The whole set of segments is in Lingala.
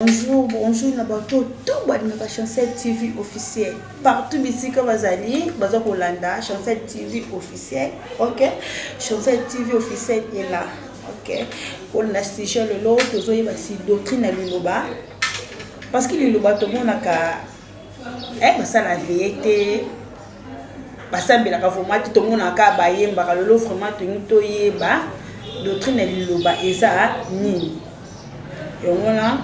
Bonjour, bonjour na bato to balingaka Chancel TV officiel partout bisika bazali baza kolanda Chancel TV officiel ok Chancel TV officiel est là ok kolanda sujet lelo tozoyeba si doctrine ya liloba parce que liloba tomonaka Eh basala veye te basambelaka vraimen te tomonaka bayembaka lelo vraimen tolingi toyeba doctrine ya liloba eza nini yango wana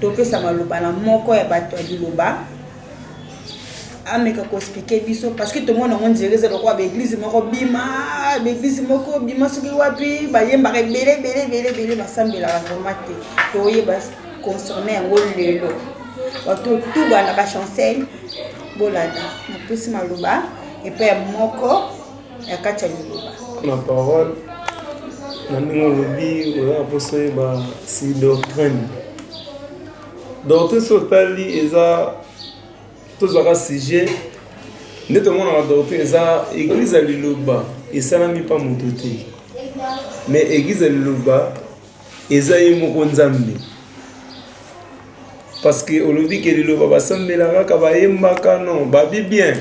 topesa maloba na moko ya bato ya liloba ameka koexplike biso parce que tomona yango nzela eza lokola baeglize moko bima baeglize moko bima soki wapi bayembaka ebele ebele ebele ebele basambelaka vraimen te toyeba concerne yango lelo bato tout bandaka chancel bolanda napesi maloba epai ya moko ya kati ya liloba na parole na ndenge olobi oya mposa oyeba si doctrine doctrine so otali eza tozwaka sujet nde tomonaka doctrine eza eglize ya liloba esalami mpa moto te mais eglize ya liloba eza ye moko nzambe parce que olobi ke liloba basambela kaka bayembaka non babi bien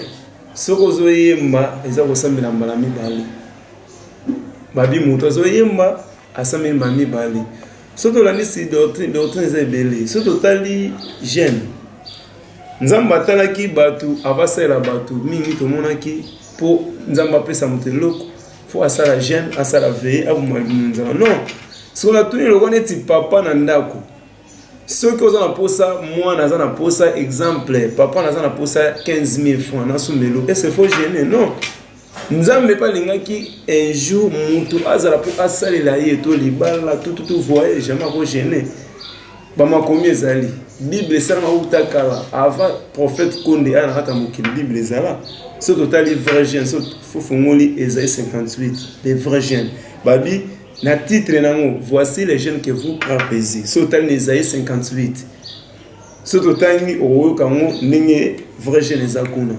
soki ozoyemba eza kosambela mbala mibale babi moto azoyemba asambeli mbala mibale soki tolandisi doctrine doctrine eza ebele soki totali gene nzambe atalaki bato avasalela bato mingi tomonaki mpo nzambe apesa moto eloko fo asala jeune asala veye aboma libumu nzala non soko natuni eloko neti papa na ndako soki oza na mposa mwana aza na mposa exemple papa naza na mposa 15000 franc nasumelo ese fo gene non nzambe mpe alingaki un jour moto azala mpo asalela ye to libala tututu voye jamais ako gene bamakomi ezali bible esanga uta kala avant prophète konde aya na kati ya mokili bible ezala so totali vrai jeune so fofongoli ezali 58 le vrai jeune babi na titre nango voici les jeunes que vous prapesi so otali na ezali 58 so totangi okoyoka yango ndenge vrai jeune eza kuna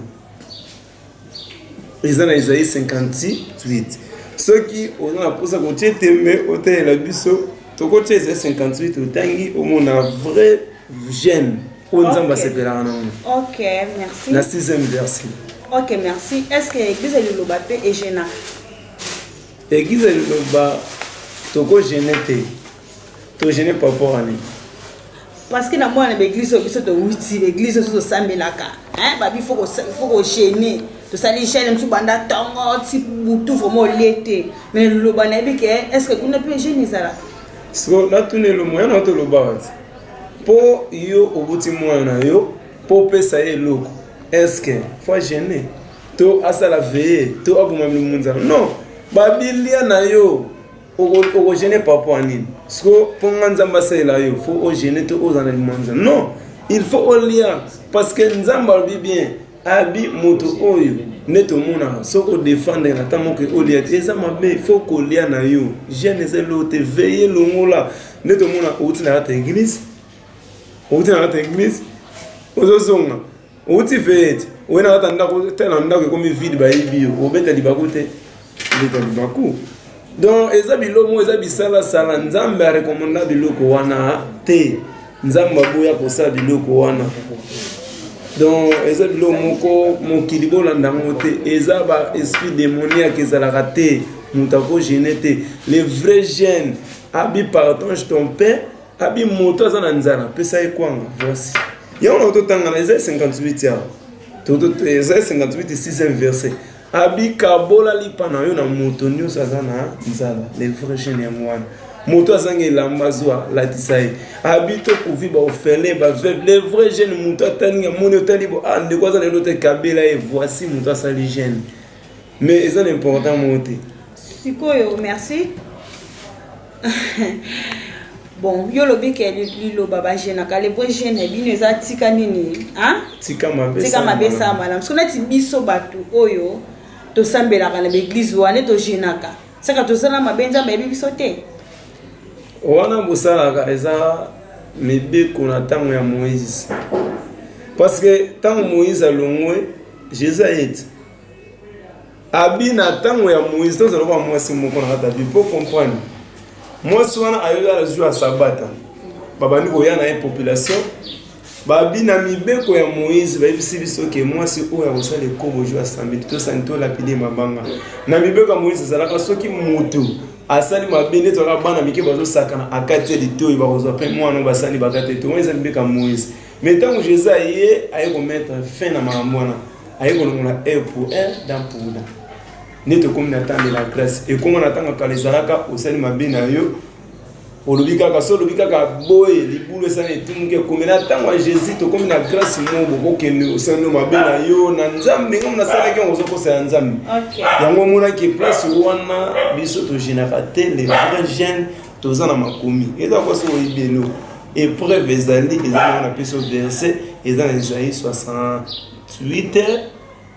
eza na ezali 58 soki oza na mposa kotie tembe otalela biso tokotia ezali 58 otangi omona vrai gene oyo nzambe asepelaka nango na 6e versi ok merci est ce que eglise ya liloba mpe egena eglise ya liloba tokogene te To gêner par rapport à nini? parce que na mwana na baeglise oyo biso towuti baeglise oyo tosambelaka babi fo kogene tosali gene mosusu banda ntongo ti butu vraimen olie te mais loba nayebi ke est ce que kuna mpe gene ezalaka siko natuna elomo yana tolobaka ti mpo yo obuti mwana na yo mpo opesa ye eloko est ce que fo agene to asala veye to aboma mimunzana non babilia na yo okogene par rapport ya nini siko mpo nga nzambe asalela yo fo ogene to oza na limanza non il faut olia parce que nzambe alobi bien abi moto oyo nde tomonaka soki odefendre na ntango moke olia te eza mabe fo kolia na yo gene eza eloo te veye longola nde tomona outi na kata eglise outi na kata eglise ozozonga outi fete oye na kata ndako te na ndako ekomi vide bayebi yo obeta libaku te obeta libaku donc eza bilomo eza bisalasala nzambe arekomanda biloko wana te nzambe aboya kosala biloko wana donc eza biloko moko mokili bolanda yango te eza ba esprit démoniaque ezalaka te moto akogene te le vrai gene abi partage ton père abi moto aza na nzala pesa ye kwanga voici yango na totangana eza 58 awa eza 58 sixième verset abi kabola lipa na yo na moto nyonso aza na nzala le vrai jeune yango wana moto azangi elamba azwa latisa ye abi tokuvi baofele baveuve le vrai jeune moto atani amoni otali bo a ah, ndeko aza na elo te kabela ye voici moto asali jeune mais eza na important moko te sikoyo merci bon yo olobi ke liloba bagenaka lepo gene bino eza tika nini tika mabe esala malamu soki neti biso bato oyo tosambelaka na baeglize wana togenaka saka tozala mabe nzambe ayebi biso te wana bosalaka eza mibeko na ntango ya moïse parce que ntango moïse alongwe jésus ayeti abi na ntango ya moise tozala lokola mwasi moko na kati ya bipo comprendre mwasi wana ayoki ala jour ya sabata babandi koya na ye population babi na mibeko ya moïse bayebisi biso ke mwasi oyo akosala ekobo jour ya samedi tosani tolapide mabanga na mibeko ya moïse ezalaka soki motu asali mabe nde tolaka bana mike bazosakana akati ya litoyi bakozwa mpe mwana oyo basali bakati ya litoyi wana eza mibeko ya moïse Mais tant que Jésus aye aye ko mettre fin na makambo wana aye kolongola e pour un dans pour dans nde tokomi na temps de la grâce ekoma na ntango kala ezalaka osali mabe na yo olobi kaka so olobi kaka boye libulu esali etumuki ekomi na ntango ya jésus tokomi na grâce mo bokokende osali mabe na yo na nzambe ngam nasalaki yango ozokosa ya nzambe yango omonaki place wana biso togenaka te le vrai jeune toza na makomi eza kwa soki oyebi eloko epreuve ezali eza nango na peso verset eza na esaïe 68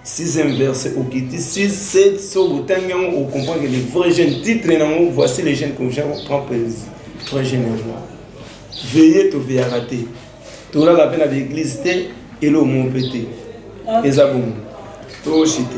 sixième verset okiti 6 7 so botangi yango okomprendre le vrai jeune titre nango voici les jeunes comme jean prend plaisir vrai jeune ya roi veye toveyaka te tolala mpe na baeglize te eloko moko mpe te eza bongo toshite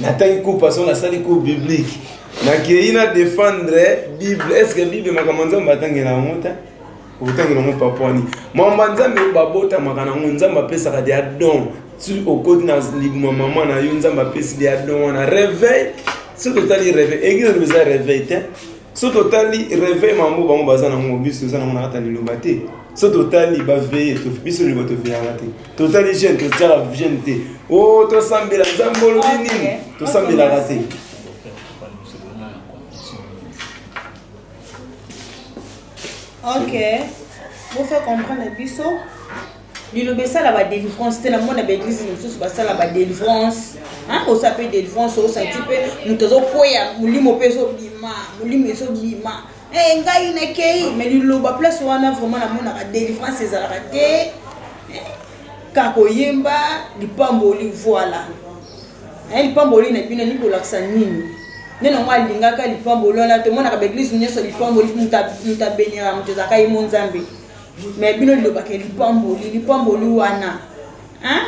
natangi cours paso nasali cours biblique nakei na défendre bible est ce que bible makambo nzambe atangela yango te okotangela yango papa wani mamba nzambe babotamaka nango nzambe apesaka dia don soki okoti na libuma mama na yo nzambe apesi dia don wana réveil soki totali réveil eglise eza réveil te so totali reveil mambo bango baza na ngo biso toza na ngo na kata liloba te so totali baveye biso liloba toveyaka te totali jeune totiaka jeune te o oh, tosambela nzambe olobi nini tosambelaka te ok bofe comprendre biso liloba esala ba delivrance te namona ba eglise mosusu basala ba delivrance osa mpe delivrance osanti mpe moto azokweya molimo mpe ezobima molimo ezobima eh, ngai nakei me liloba place wana vraiment namonaka delivrance ezalaka te eh, kaka koyemba lipamboli voila eh, lipamboli na bino elingi kolakisa nini nde nango alingaka lipamboli wana tomonaka baeglise nyonso lipamboli moto abeniraka moto ezalaka ye mo nzambe me bino lilobaka lipamboli lipamboli wana hein?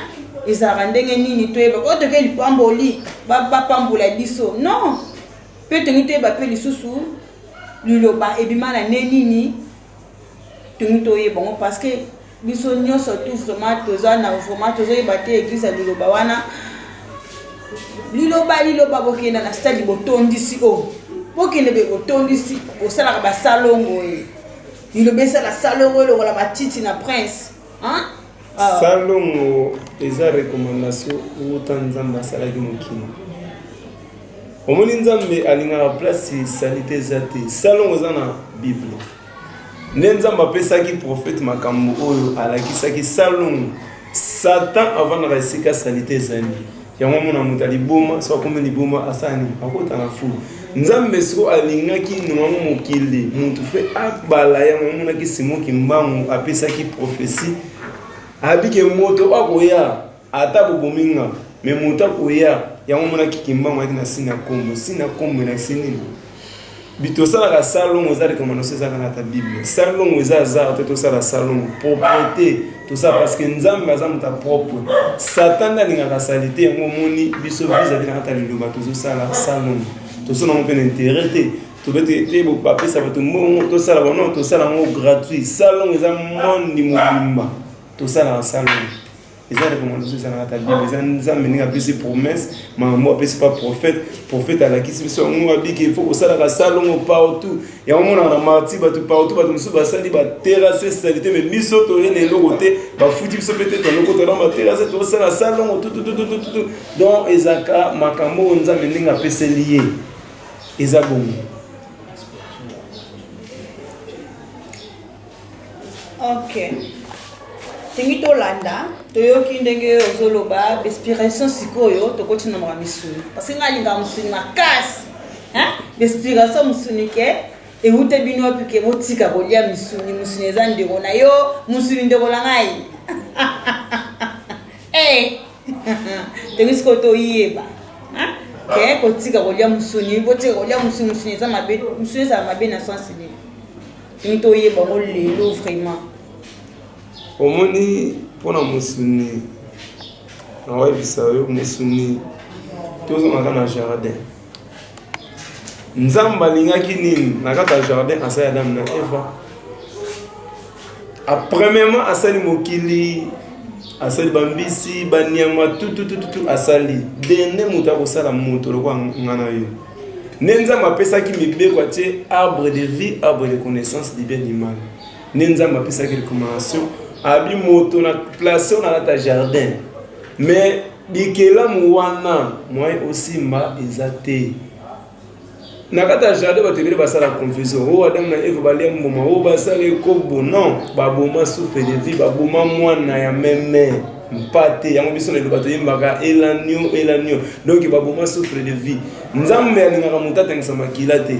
ezalaka ndenge nini toyeba oyo toke lipamboli bapambola ba biso non mpe tongi toyeba mpe lisusu liloba ebima na nde nini tongi toyeba yango parce que biso nyonso tu vraiment toza na vraiment tozoyeba te eglise ya liloba wana liloba liloba bokenda na stade botondisi o oh. bokende be botondisi bosalaka basalongo ye eh. Liloba esala salongo elongola matiti na prince. Hein? Ah. Salongo eza recommandation uta Nzambe asalaki mokili. Omoni Nzambe alingaka place salite eza te. Salongo eza na Bible. Nde Nzambe apesaki prophète makambo oyo alakisaki salongo Satan avandaka esika salite ezali. Yango mona moto ya liboma soki akomi liboma asala nini? Akota na fulu. Nzambe siko alingaki nongango mokili moto mpe abala yango amonaki Simo Kimbangu apesaki profesi abike moto oyo akoya ata bobomi nga me moto akoya yango amonaki Kimbangu ayaki na sina kombo sina kombo elakisi nini? bitosalaka salongo eza recommandation ezaka na ta bible salongo eza azar te tosala salongo propreté tosala parce que nzambe aza moto ya propre satan nde alingaka salite yango omoni biso visavi na kata ya liloba tozosala salongo tosala yango mpe na intérêt te tobete te bapesa bato mbongo tosala bango tosala yango gratuit salongo eza monde mobimba tosalaka salongo eza recommandation ezalaka ta bible eza nzambe ndenge apesi promesse makambo apesi pa prophète prophète alakisi biso yango abiki il faut kosalaka salongo partout yango monaka na marti bato partout bato mosusu basali baterase salite mais biso toye na eloko te bafuti biso mpe te tolokota na baterase tosala salongo tutututututu donc ezalaka makambo oyo nzambe ndenge apeseli ye eza bongo Ok. Tingi tolanda, toyoki ndenge ozoloba, respiration sikoyo, tokoti na makambo misuni. Parce que ngai alingaka musuni makasi. Hein? Respiration musuni ke, ewute bino wapi ke botika kolia misuni, musuni eza ndeko na yo, musuni ndeko na ngai. Eh! Tingi sikoyo toyeba. Hein? Ke kotika kolia musuni, botika kolia musuni, musuni eza mabe, musuni eza mabe na sens nini? Hum toyeba yango lelo vraiment. Omoni mpo na mosuni nakoyebisa yo mosuni tozongaka na jardin nzambe alingaki nini na kati ya jardin asali adamu na eva apremièrement asali mokili asali bambisi banyama tututututu asali dene moto akosala moto lokola nga na yo nde nzambe apesaki mibeko atie arbre de vie arbre de connaissance du bien du mal nde nzambe apesaki recommandation abi moto na place oyo nalata jardin mais bikelamu wana moyen osimba eza te na kati ya jardin bato ebele basala confusion o oh, adamu na eve balia mbuma o oh, basala ekobo non baboma souffle de vie baboma mwana ya meme mpate yango biso na eloba toyembaka elanio elanio donk baboma souffre de vie nzambe alingaka moto atangisa makila te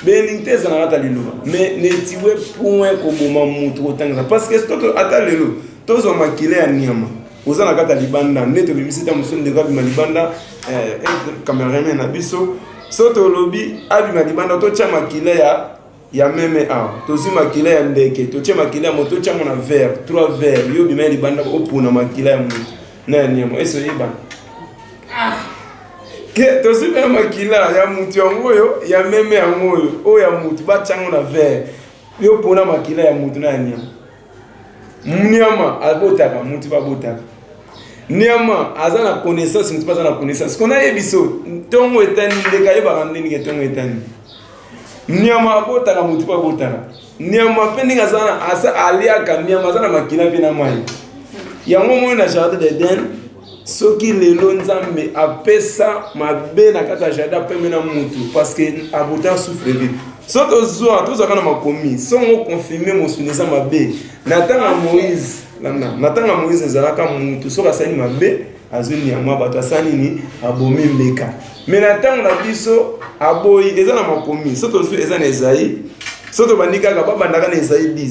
belingi te ezalaka ata liloba mais netiwe point koboma moto kotangisa parce que soki ata lelo tozwa makila ya nyama oza na kati ya libanda nde tobimisi ta mosusu ndeko abima libanda eh, cameraman na biso so tolobi abima libanda totya makila ya ya meme awa tozwi makila ya ndeke totye makila ya moto otyango na vere trois vere yo bima ya libanda opona makila ya moto na ya nyama esi oyebana ah. ke tozwi mpe makila ya moto yango oyo ya meme yango oyo oyo ya moto batyango na vere yo pona makila ya moto na ya nyama Niama abotaka mutu babotaka. Niama aza na connaissance mutu baza na connaissance. Kona ye biso ntongo etani ndeka yebaka ndenge nini ntongo etani. Niama abotaka mutu babotaka. Niama mpe ndenge aza na asa aliaka niama aza na makila mpe na mai. Yango moni na jardin d'Eden soki lelo nzambe apesa mabe na kati ya jardin apeme na mutu parce que abota souffre vite so tozwa tozwaka na makomi songo confirme mosuni eza mabe na ntango ya moïse na ntango ya moïse ezalaka mutu soki asali mabe azwi nyama bato asali nini abomi mbeka me na ntango na biso aboyi eza na makomi so tozwi eza na ezai so tobandi kaka babandaka na ezai 10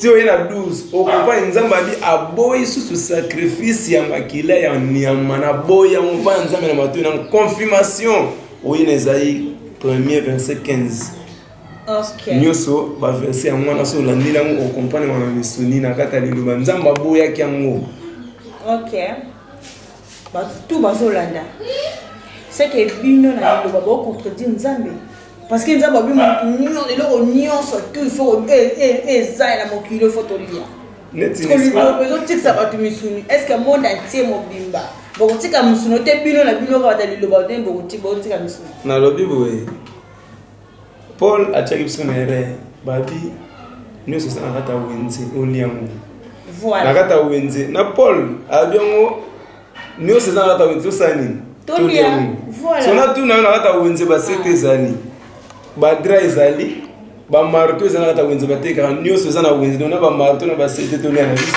ti oye na 12 okopai nzambe abi aboyi susu sacrifice ya makila ya nyama na boyi yango mpai ya nzambe na matoi na confirmation oye na ezali premier verset 15 nyonso baverse yango wana so olandeli yango okompane wana misuni na kati ya liloba nzambe aboyaki yango okay. bato tu bazolanda seke bino na liloba baocontredire nzambe parce que nzambe abi moto eloko nyonso tu ifo e, e, e, eza na mokili ifo tolia liloba ezotikisa bato misuni est ce que monde antie mobimba bokotika misuni te bino na bino kaka ta liloba te bokotika misuni nalobi boye Paul atiaki biso na erreur babi nyonso eza na kati ya wenze olia yango na kati ya wenze na Paul alobi yango nyonso eza na kati ya wenze tosala nini tolia yango so natuna yo na kati ya wenze basete ah. ezali badra ezali bamarto eza na kati ya wenze batekaka nyonso eza na wenze na bamarto na basete tolia na biso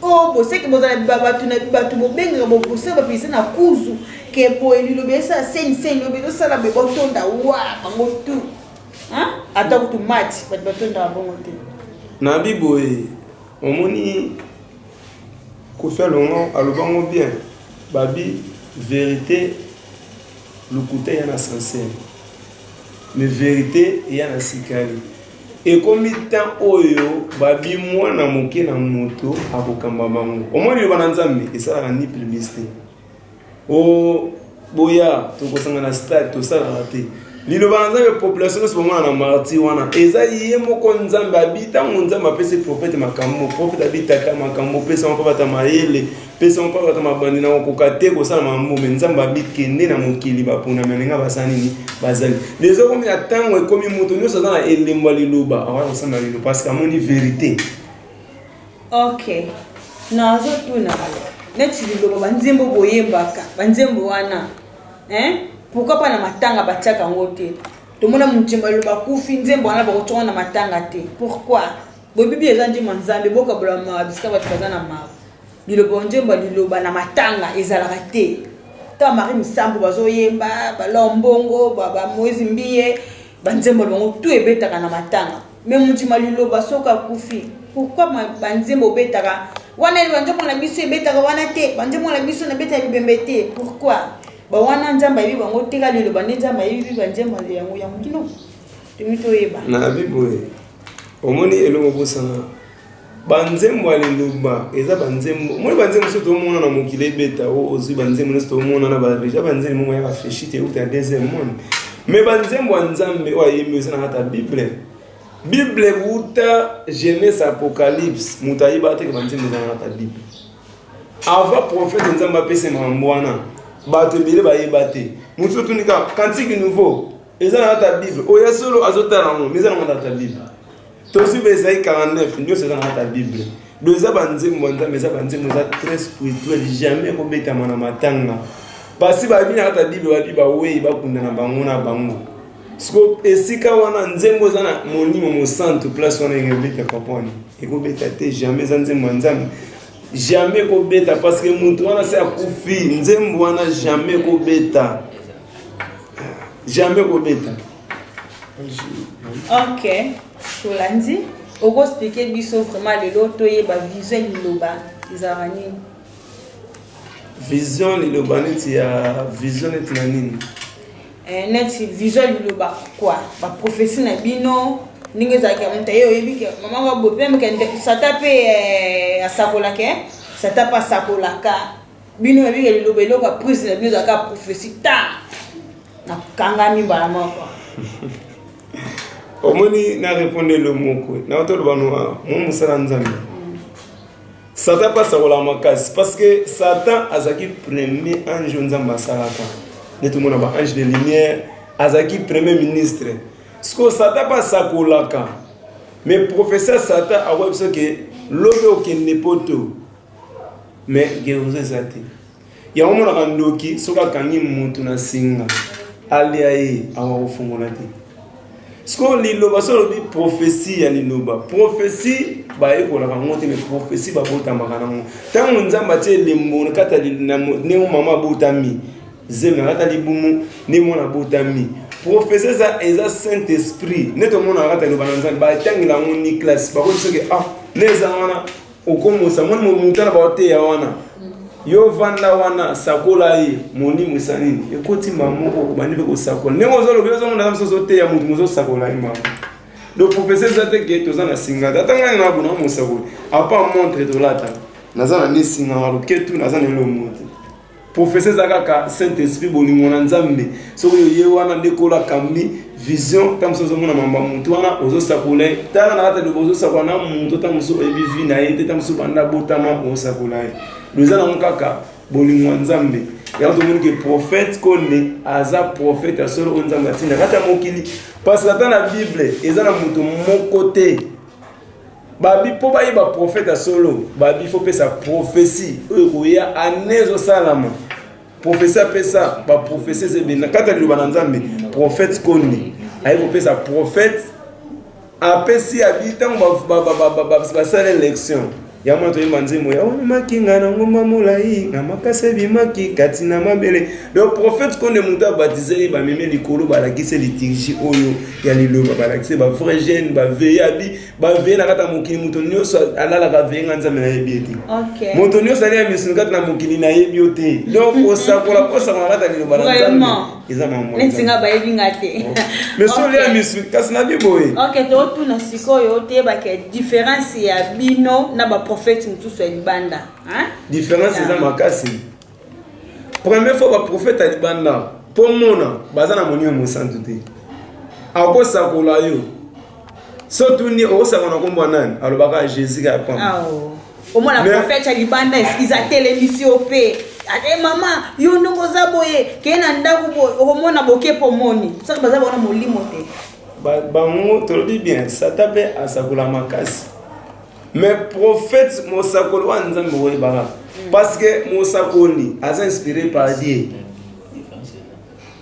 Oh, boseki bozala bato na bato bobengaka bokosala bapesa na kuzu ke boye lilobi esala seni seni lilobi ezosala be botonda wa bango tu ata kutu mati bato batondaka bongo te na biboye omoni kofi alongo alobango bien babi verité lokuta eya na sansele mais verité eya na sikali ekomi temps oyo babi mwana moke na moto akokamba bango omoni liloba na nzambe esalaka ni publicité o oh, boya tokosanga na stade tosalaka te liloba na nzambe population nyonso bamona na martir wana eza ye moko nzambe abi ntango nzambe apesi profete makambo profete abi tata makambo opesa moko bata mayele pesa mopanga ata mabandi na kokoka te kosala mambo me nzambe abikende na mokili baponami alinga baza nini bazali leza okomi na ntango ekomi moto nyonso aza na elembo ya liloba akoya kosamba lilo parce que amoni verité ok nazotuna neti liloba banzembo boyembaka banzembo wana hein? pourkui mpa na matanga batiaka yango te tomona monzembo ya liloba kufi nzembo wana bakotyaka na matanga te pourkui boyebi bi eza nzembo ya nzambe bokabola mawa bisika bato baza na mawa Liloba o nzembo ya liloba na matanga ezalaka te. Ntango Marie Misambo bazoyemba, ba Laure Mbongo, ba, ba Moise Mbiye, ba nzembo na bango tout ebetaka na matanga. Mais mundima liloba soki akufi, pourquoi ma- ba nzembo obetaka wana ba nzembo na biso ebetaka wana te, ba nzembo na biso nabeta bibembe te. Pourquoi? Ba wana Nzambe ayebi bango te, kaka liloba nde Nzambe ayebi ba nzembo yango yango kino tomi toyeba. nalobi boye omoni eloko bosana banzembo ya liloba eza banzembo moi banzembo so tomona na mokili ebeta o ozwi banzembo nyonso tomona na bareja banzembo moko ya bafeshi te euta deuxième monde mais banzembo ya nzambe oyo ayembi eza na kati ya bible bible euta genese apocalypse moto ayebaka teke banzembo eza na kati ya bible avant prophète nzambe apesa mambo wana bato ebele bayeba te moto otuni kaka kantiki nouveau eza na kati ya bible oyo ya solo azotala yango mais eza na kati ya bible tozwi ba ezai 49 nyonso eza na kati ya bible do eza banzembo ya nzambe eza banzembo eza très spirituel jamais kobetama na matanga basi bayebi na kati ya bible babi bawei bakunda na bango na bango siko esika wana nzembo eza na molimo mosantu place wana ekobeta papa wana ekobeta te jamais eza nzembo ya nzambe jamais ekobeta parce que moto wana se akufi nzembo wana jamais ekobeta jamais ekobeta ok tolandi okoexplike biso vraiment lelo toyeba vision liloba ezalaka nini vision liloba neti ya vision neti na nini eh, neti vision liloba kua baprofesi na bino ndenge ezalaki ya moto aye oyebi ke mama babope mpe sata mpe eh, asakolaka eh? sata mpe asakolaka bino na bino liloba eloko ya prise na bino ezalaka prophesie ta nakangami mbala moko omoni na reponde elo moko na otoloba noa mwa mosala nzambe satan mpe asakolaka makasi parce que satan azalaki premier ange oyo nzambe asalaka nde tomona ba ange de lumière azalaki premier ministre sikoyo satan mpe asakolaka mais professeur satan akoya biso ke lobi okende poto mais guérison eza te yango omonaka ndoki soki akangi mutu na singa alia ye awa kofungola te sikoyo liloba so olobi profesi ya liloba profesi bayekolaka yango te me profesi babotamaka nango ntango nzambe atie elembo kata ndenge mama abotami zemi akata libumu nde mwana abotami profesi eza eza saint esprit nde tomonaka kata liloba na nzambe batangela yango ni classe bakoki soki ah nde eza wana okomosa moni momuta na baoteya wana yo vanda wana sakola ye monimo esa nini ekoti mbala moko obandi mpe kosakola ndenge ozolobi ozomona na mosusu oteya motu mozosakola ye mbala donc professeur eza te ke toza na singa te ata ngai na bona mosakoli apa montre tolata naza na nesinga na loketu naza na elo moko te profese eza kaka saint esprit bolingo na nzambe soki oye wana nde kola kambi vision ntango mosusu ozomona mambo ya motu wana ozosakola ye tala na kati aloba ozosakola na moto ntango mosusu oyebi vi na ye te ntango mosusu banda botama ozosakola ye loeza nango kaka bolingo ya nzambe yango tomoni ke prophète konde aza prophète ya solo oyo nzambe atinda kati ya mokili parce que ata na bible eza na moto moko te babi mpo bayeba profete ya solo babi fo pesa profesi oyo ekoya ane ezosalama profesi apesa baprofesi eza ebele na kati ya liloba na nzambe profete kondi aye kopesa profete apesi abi ntango basala election ya mwana toyemba nzembo ya omemaki ngai na ngomba molai na makasi ebimaki kati na mabele donc profete konde moto abatize ye bamemi likolo balakisi liturgie oyo ya liloba balakisi bavrai jeune baveyabi baveye na kati ya mokili moto nyonso alalaka veye nga nzambe nayebi ye te moto nyonso ali ya misuni kati na mokili nayebi yo te donc kosakola kosakola kati ya liloba na nzambe eza mamonetinga bayebi nga te oh. mais so olia misuni kasi na biboye ok totuna sikoyo toyebaka différence ya bino na baprofete mosusu ya libanda différence eza makasi Première fois ba prophète à libanda po mona baza na monio mosantu te. Akosakola yo. So tuni okosakola kombo nani? Alobaka Jésus ka pamba. Ah, oh. omona prophète ya libanda eskiza telemisi yo mpe ate mama yo ndongo oza boye keye na ndako boye okomona bokepo omoni soki baza baona molimo te bango tolobi bien sata mpe asakola makasi mais prophète mosakoli wana nzambe oyebaka parce que mosakoli aza inspiré par dieu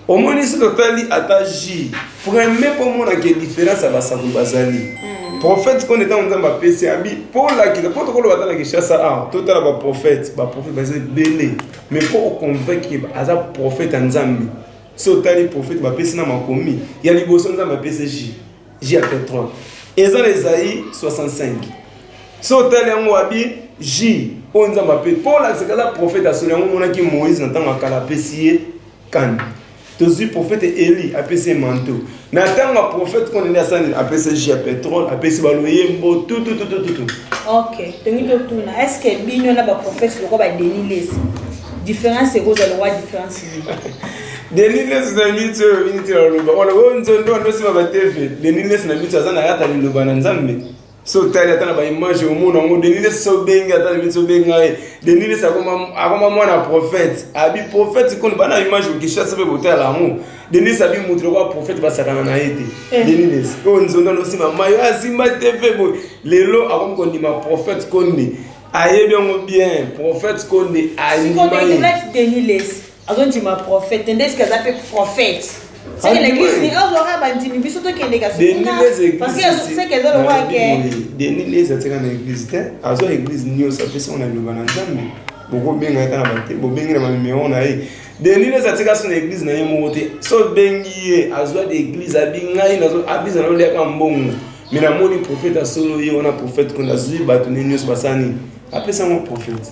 omoni soki otali ata ji premier mpo omonaka différence ya basakoli bazali hmm. prophète koni ntango nzambe apesi abi mpo olakisa mpo tokoloba ata na kinshasa awa totala baprophète baprophète baza ebele mais mpo oconvaincre aza prophète ya nzambe so otali prophète bapesi na makomi ya liboso nzambe apesi ji J ya petrole eza na Esaïe 65 so otali yango abi J oyo nzambe ape mpo olakisa kaza profete asoli yango omonaki moïse na ntango ya kala apesi ye kani tozwi profete eli apesi ye manto na ntango ya profete kuna nde asali apesi jus ya petrole apesi baloyembo tutututututu ok tongi totuna est ce que bino na baprofete lokola badenilesi différence ekozala wa différence Denis Lessi na mitu oyo miniti na loba wana oyo nzondo wana osima ba TV Denis Lessi na mitu aza na yata liloba na Nzambe so otali ata na ba image omona yango Denis Lessi so bengi ata na mitu obenga ye Denis Lessi akoma akoma mwana prophète abi prophète kono bana image okishasa pe botala yango Denis Lessi abi mutu lokola prophète basakana na ye te eh. Denis Lessi oyo nzondo wana osima mayo asimba TV boye lelo akomi kondima prophète konde ayebi yango bien prophète konde ayimba ye azondima prophète te ndeske aza mpe prophète seke l'église ni azwaka bandimi biso tokendeka soparceseke eza lokola ke denis les atika na église te azwa église nyonso apesi ngo na liloba na nzambe bokobenga ye ta na bate bobengi na banimero na ye denis les atika so na église na ye moko te so obengi ye azwa de église abi ngai abisa na oliaka mbongo me namoni prophète asolo ye wana prophète kona azwi bato ne nyonso basani apesa ngo prophète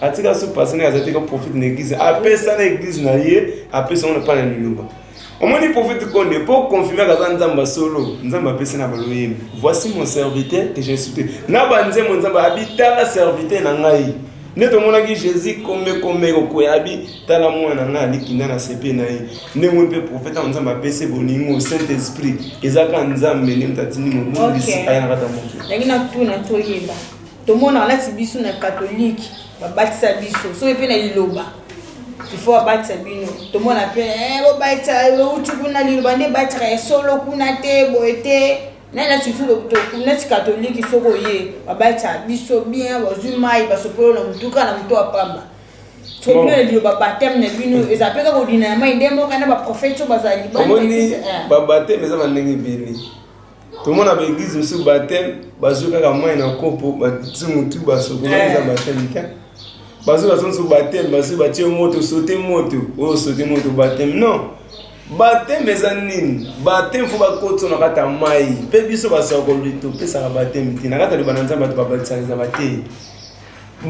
atika so pase naye aza te ko profite na eglise apesa na eglise na ye apesa ngo na pana liloba omoni profite konde mpo confirmaka aza nzambe ya solo nzambe apesi na baloyembi voici mon serviteur que j'ai soute na banzembo nzambe abitala serviteur na ngai nde tomonaki jésus komekome kokwea abi tala mwana na ngai alikinda na sepe na ye nde moi mpe profete yango nzambe apesi bolingo saint esprit ezaka nzambe nde moto atindi mobongisi ayanakata moke tomonaka nati biso na katolike babatisa biso soki mpe na liloba ifo abatisa bino tomona mpe eh, bobatisa outi kuna liloba nde ebataka ya solo kuna te boye te nani nati biso nati katolike soki oye babatisa biso bien bazwi mai basopolo na motuka na moto apamba soki na liloba bateme na bino mm. eza mpe kaka odina ya mai nde moko na baprofete oyo bazali omoni eh. babateme eza bandenge ebele tomona ba eglise mosusu bateme bazwi kaka mai na kopo bati motu basokola eh. eza bateme te bazwi bazo mosusu bateme bazwi batie moto sote moto oyo oh, sote moto bateme non bateme eza nini bateme fo bakotisa na kati ya mai mpe biso basakoli topesaka bateme te na kati ya libana nzambe bato babatisanisa batei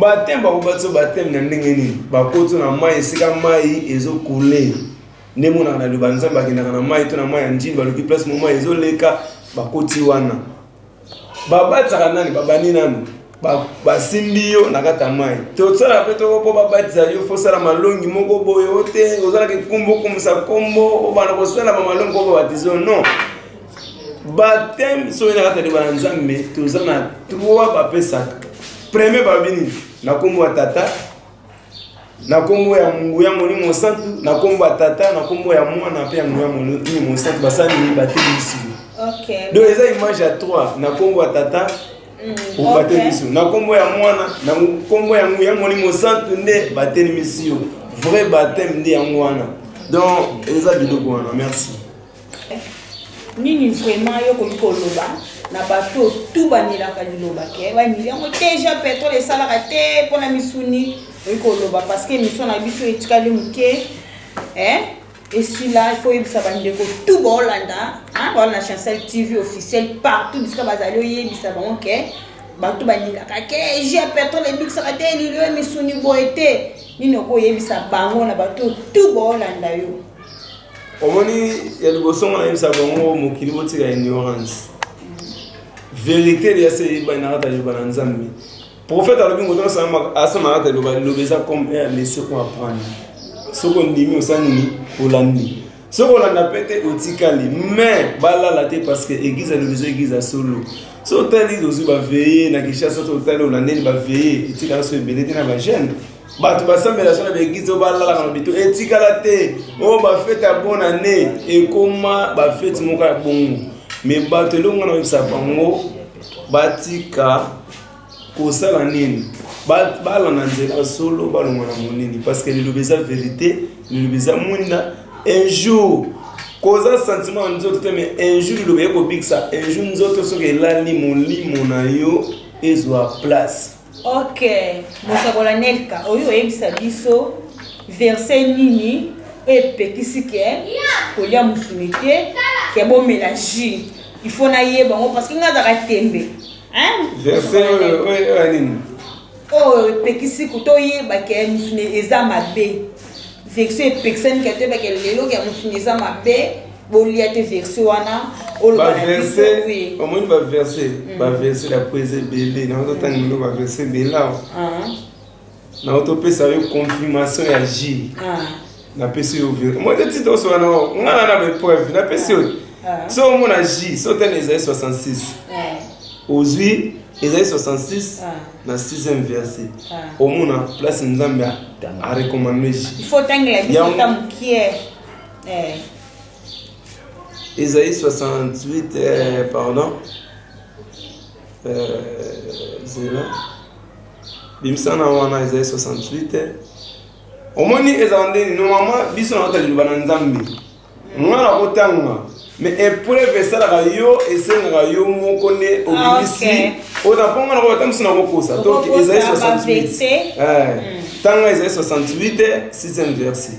bateme bakobatisa bateme na ndenge nini bakotisa na mai esika mai ezokule nde emonaka na liloba nzambe akendaka na mai to na mai ya njini baluki place moma ezoleka bakoti wana babatisaka nani babandi nanu basimbi yo na kati ya mai tosala mpe toko mpo babatisa yo fosala malongi moko boye o te ozalaki nkombo okomisa nkombo obanda kosala bamalongi mpo babatiza non bateme soki na kati ya liba na nzambe toza na trois bapesaka premier babi nini na nkombo ya tata na kombo ya nguya molimo mosantu na kombo ya tata na kombo ya mwana mpe ya nguya molimo mosantu basali batelisi okay. donc eza image ya 3 na kombo ya tata mm, obatelisi okay. na kombo ya mwana na kombo ya nguya molimo mosantu nde batelemisi yo vrai baptême nde yango wana donc eza biloko wana merci Nini vraiment yo koki koloba na bato tout banilaka liloba ke banili yango deja petrole esalaka te mpo na misuni oyi koloba parce que émission na biso etikali moke eh? esila ifo oyebisa bandeko tout baolanda baolanda chancel tv officiel partout bisika bazali oyebisa bango ke bato balingaka ke je petrole ebikisaka te elili oyo misuni boye te nini okoyebisa bango na bato tout baolanda yo omoni ya liboso ngo nayebisa bango mokili botika ignorance verité liya se eyebani na kata liloba na nzambe prophète alobi moto asama kata liloba liloba eza comme air laisse ko apprendre soki ondimi osali nini olandi soki olanda mpe te otikali mais balala te parce que église alobi eza église ya solo so otali ozwi baveye na kinshasa to otali olandeli baveye etikala so ebele te na bajeune bato basambela so na baeglize oyo balalaka na bito etikala te oyo bafete ya bon année ekoma bafete moko ya bongo me bato elongo na oyebisa bango batika kosala nini balanda nzela solo balonga na monini parce que liloba eza verité liloba eza mwinda un jour koza sentiment ya nzoto te mais un jour liloba ekobikisa un jour nzoto soki elali molimo na yo ezwa place Ok, mosakola Nelka, oyo oyebisa biso verset nini oyo epekisi ke kolia mosuni te ke bomela jus il faut nayeba yango parce que nga azaka tembe verse oyo ya nini oyo epekisi toyeba ke mosuni eza mabe verse epekisani ke toyeba ke lelo ke mosuni eza mabe bolia te verse wana omoni baverse mm. baverse ya poese ebele na ozotanga milo baverse ebele awa ah. na otopesa yo confirmation ya jile ah. napesi yo omoni te titre osola nango nga na na baepreuve napesi yo ah. so omona ji so otani ezali 66 ozwi ezali 66 na 6e verse omona place nzambe arecommande ji yango Eh. Esaïe 68, euh, pardon. Euh, zela. Bimisa na wana Esaïe 68. Eh. omoni ezala ndeni normalement biso na kota liloba na nzambe nga na kotanga me epreuve esalaka yo esengaka yo moko nde ah, obimisi oza mpo nga na kobatamisi na kokosa donc ezali 68 tanga ezali 68 6e verset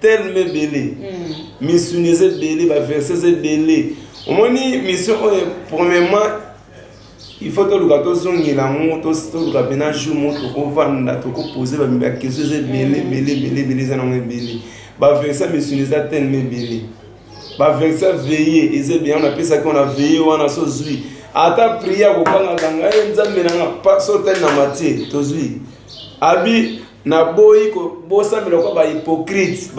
telme ebele misuni eza ebele baverse eza ebele omoni mission oyo premièrement il faut toluka tozongela yango toluka mpena jour moko tokovanda tokopose bakeso eza ebele ebele ebele ebele eza nango ebele baverse misuni eza telme ebele baverse veye eza ebele yango napesaki wana veye wana so zwi ata priya kokangaka ngai nzambe nanga sotali na matie tozwi abi naboyi kobosamela kwa bahypocrite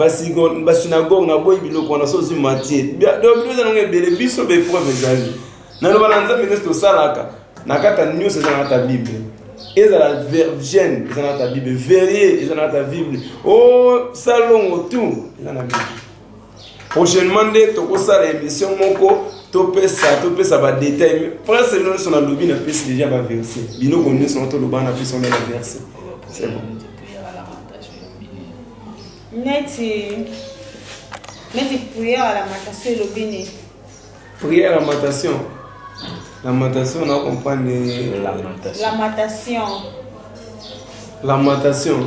basinagoge naboyi biloko wana so ozwi mantie do bino eza nango ebele biso baepreuve ezali naloba na nzambe nyonso tosalaka na kata nyonso eza na kata bible ezala vergene eza na kata bible verrier eza na kata bible o oh, salongo tout eza na bible prochainement nde tokosala émission moko topesa topesa badetail prince lelo nyonso nalobi na pesi déjà baverse biloko nyonso na toloba na pesi ona na verse c'est bon neti neti prière ya lamentation elobi nini prière ya lamentation lamentation na comprendre lamentation lamentation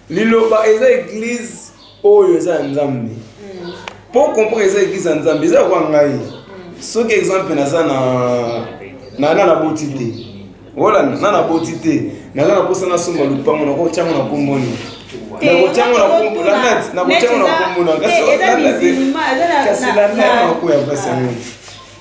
Liloba eza eglise oyo eza ya Nzambe. Mm. Po comprendre eza eglise ya Nzambe, eza kwa ngai. Mm. Soki exemple naza na na na boti te. Voilà, na na boti te. Naza na posa na somba lupango na ko chango na komboni. nakotyango na kombo na nati nakotyango na kombo na kasi kasi la meme nakoya mpasi yango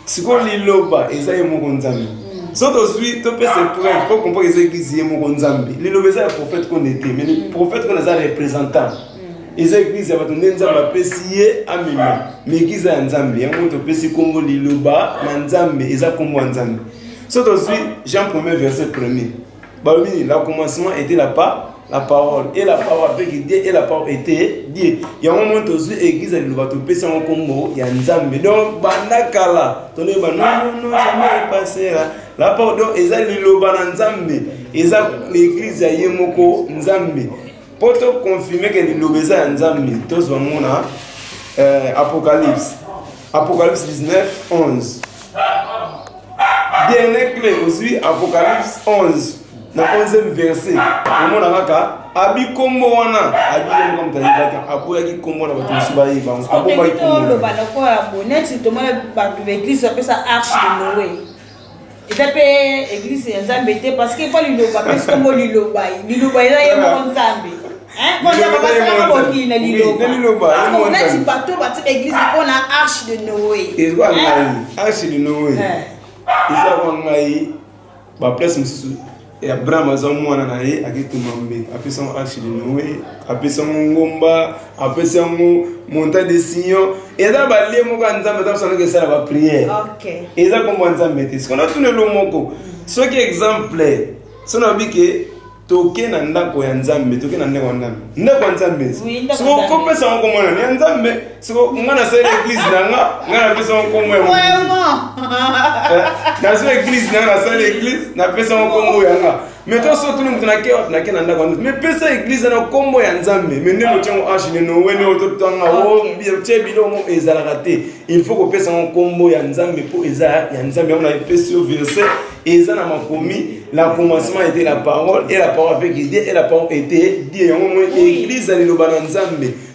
sikoyo liloba eza ye moko nzambe mm. so tozwi topesa epreuve po kompo eza eglise ye moko nzambe liloba eza ya prophète kone te mais mm. prophète kone aza représentant mm. eza eglise ya bato nde nzambe apesi ye amema mais eglise ya nzambe yango topesi nkombo liloba na nzambe eza nkombo ya nzambe so tozwi jean premier verset premier balobi nini na commencement ete la pa la parole e la parole apeki die e la parole ete die yango moi tozwi eglize ya liloba topesi yango nkombo ya nzambe donc banda kala tonoyeba nonono jamais epasera la parole donc eza liloba na nzambe eza eglize ya ye moko nzambe mpo to confirme ke liloba eza ya nzambe tozwa yango na eh, apocalypse apocalypse 19 11 dernier cle ozwi apocalypse 11 na 11e verset omona kaka abi kombo wana abi yango kama tayebaki aboyaki kombo na bato mosusu bayeba abobaki kombo loba lokola boneti tomona bato ba eglise bapesa arche de noe eza mpe eglise ya nzambe te parce que mpo liloba mpe sokombo liloba liloba eza ye moko nzambe basalaka bokili na lilobaneti bato batika eglise mpo na arche de noe ezwa ngai arche de noe ezwa ngai baplace mosusu Et Abraham aza mwana na ye akete mambe apesi yango arche de noe apesi yango ngomba apesi yango monta de sion eza balie moko ya nzambe eza kosandoka esala bapriere eza kombo ya nzambe te sikoyo natuna elo moko soki exemple so nayobi ke toke na ndako ya nzambe toke na ndako ya nzambe ndako ya nzambe sikoyo kopesa yango komona ya nzambe siko nga nasali eglise na nga nga napesa ngo nkombo ya nazwa eglise na nga nasali eglise napesa ngo nkombo ya nga mais to so tuni moto nake wapi nake na ndako yango mais pesa eglise na nkombo ya nzambe mais nde motya ngo arche ne nowe ne ototanga otye bilongo ezalaka te il faut kopesa ngo nkombo ya nzambe mpo eza ya nzambe yango napesi yo verset eza na makomi la commencement était la parole et la parole avec idée et la parole était die yango moi eglise aliloba na nzambe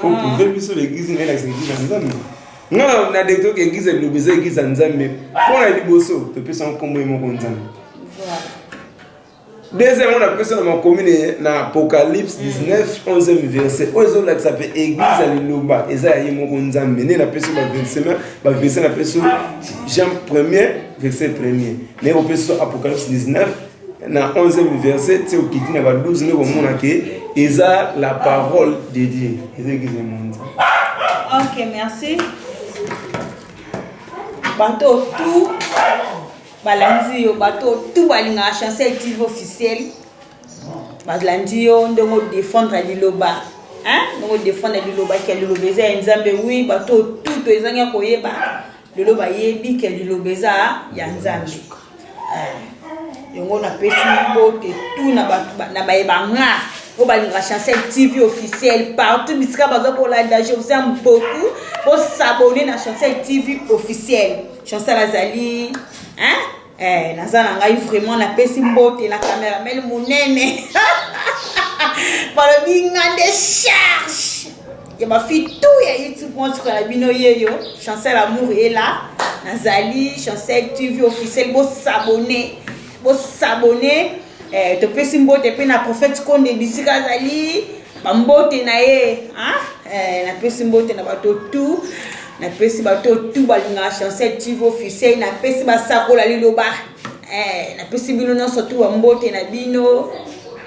faut mm. prouver biso l'église ngai nakisa église ya nzambe nga na deki toyoka église ya biloba eza église ya nzambe mpo na liboso topesa nkombo ye moko nzambe deuxième oyo napesa na makomi na apocalypse 19 11e mm. verset oyo ezolakisa mpe église ya liloba eza ya ye moko nzambe nde napesi baversema baverse napesi jean premier verset premier naye kopesa apocalypse 19 na 11e verset ti okiti na ba 12 nde komona ke eza la parole de dieu eza eglise monza ok merci bato tout balandi yo bato tout balingaka chancel tv officiel balandi yo ndenge odefendre liloba ndenge odefendre liloba ke liloba eza ya nzambe wi bato tout toezangi ya koyeba lelo bayebi ke liloba eza ya nzambe eh, yango napesi mbote tu na baye banga oyo balingaka chancel tv officiel partout bisika baza kolanda je vous aime beaucoup bosabone na chancel tv officiel chancel azali hein? Eh, naza na ngai vraiment napesi mbote na cameramel monene balobi nga nde charge ya bafi tu ya youtube montre na bino yeyo chancel amour ela nazali chancel tv officiel bosabone bosabone eh, topesi mbote mpe na prophète konde bisika azali Ba mbote na ye, hein? Eh, na pesi mbote na bato tout. Na pesi bato tout balinga Chancel TV officiel, na pesi ba sakola liloba. Eh, na pesi bino non surtout ba mbote na bino.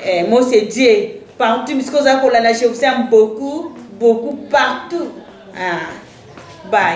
Eh, moi c'est Dieu. Partout bisiko za kolanda, je vous aime beaucoup, beaucoup partout. Ah. Bye.